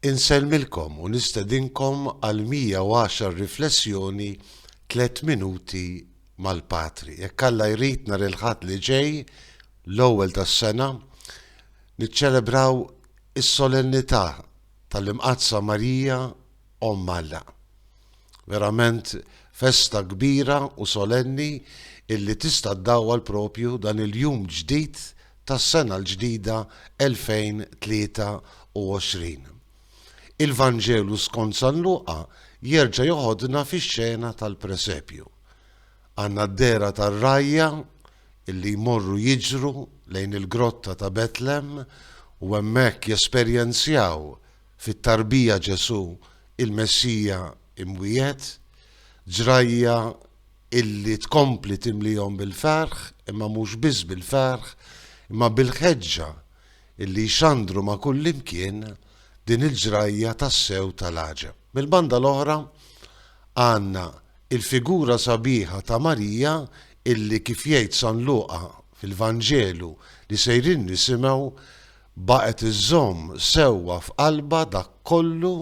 Insellmilkom u nistedinkom għal 110 riflessjoni tliet minuti mal-Patri. Jekk Alla jrid nhar il-Ħadd li ġej, l-ewwel tas-sena, niċċelebraw is-Solennità tal-Imqaddsa Marija Omm Alla. Verament festa kbira u solenni illi tista' ddawwal propju dan il-jum ġdid tas-sena l-ġdida 2023. Il-Vanġelu skont San Luqa jerġa' joħodna fix-xena tal-presepju. Għandna d-dehra tar-rgħajja illi jmorru jiġru lejn il-grotta ta' Betlem u hemmhekk jesperjenzjaw Fit-tarbija Ġesù, il-Messija imwiegħed, ġrajja illi tkompli timlihom bil-ferħ, imma mhux biss bil-ferħ, imma bil-ħeġġa illi jxandru ma' kullimkien din il-ġrajja tassew tal-għaġeb. Mill-banda l-oħra, għandna il-figura sabiħa ta' Marija illi kif jgħid San Luqa fil-Vanġelu li sejrin nisimgħu, Baqgħet iżżomm sewwa f'qalbha dak kollu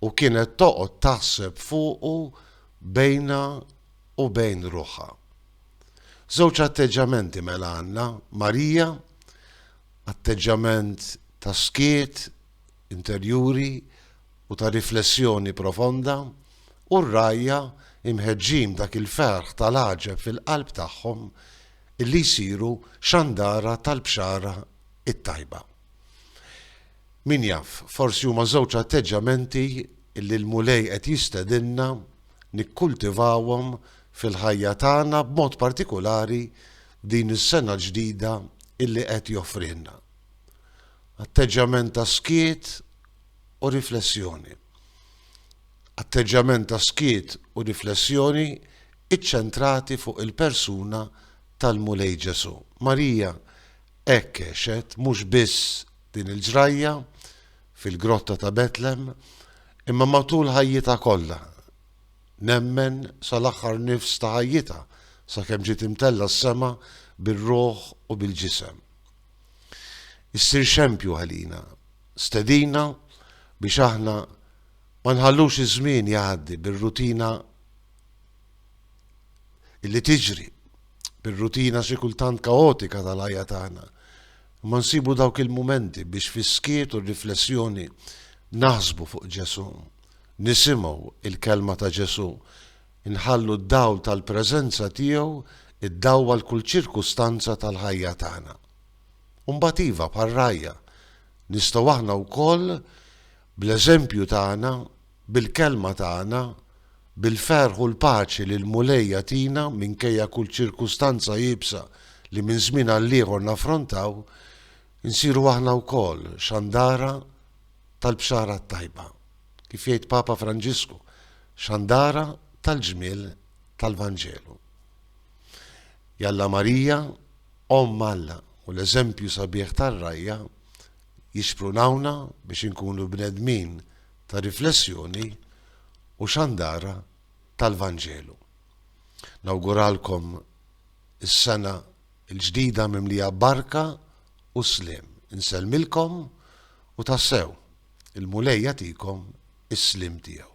u kienet toqgħod taħseb fuqu bejnha u bejn ruħha. Żewġ atteġġamenti mela għandna, Marija, atteġġament ta' skiet interjuri u ta' riflessjoni profonda, u r-rgħajja, imħeġġin b'dak il-ferħ tal-għaġeb fil-qalb tagħhom, illi jsiru xandara tal-bxara it-tajba. Min jaf, forsi huma żewġ atteġġjamenti li l-Mulej qed jistedinna nikkultivawhom fil-ħajja tagħna b'mod partikulari din is-sena l-ġdida illi qed joffrilna. Atteġġjament ta' skiet u riflessjoni. Atteġġjament ta' skiet u riflessjoni iċċentrati fuq il-persuna tal-Mulej Ġesù. Marija Hekk għexet mhux biss din il-ġrajja fil-Grotta ta' Betlem imma matul ħajjitha kollha, nemmen sal-aħħar nifs ta' ħajjitha sakemm ġiet imtellgħa s-sema bir-ruħ u bil-ġisem. Issir xempju għalina, stedina biex aħna ma nħallux iż-żmien jgħaddi bir-rutina li tiġri bir-rutina xi kultant kaotika tal-ħajja tagħna, imma nsibu dawk il-mumenti biex fis-skiet u r-riflessjoni naħsbu fuq Ġesù, nisimgħu l-kelma ta' Ġesù, inħallu d-dawl tal-preżenza tiegħu iddawwal kull ċirkustanza tal-ħajja tagħna. U mbagħad iva, bħar-rgħajja, nistgħu aħna wkoll, bl-eżempju tagħna, Bil-kelma tagħna, bil-ferħ u l-paċi li l-Mulej jagħtina minkejja kull ċirkustanza iebsa li minn żmien għall-ieħor naffrontaw, insiru aħna wkoll xandara tal-Bxara t-Tajba. Kif jgħid Papa Franġisku, xandara tal-ġmiel tal-Vanġelu. Jalla Marija, Omm Alla u l-eżempju sabiħ tar-rgħajja jixprunawna biex inkunu bnedmin ta' riflessjoni u xandara tal-Vanġelu. Nawguralkom is-sena l-ġdida mimlija barka u sliem. Insellmilkom u tassew il-Mulej jagħtikom is-sliem tiegħu.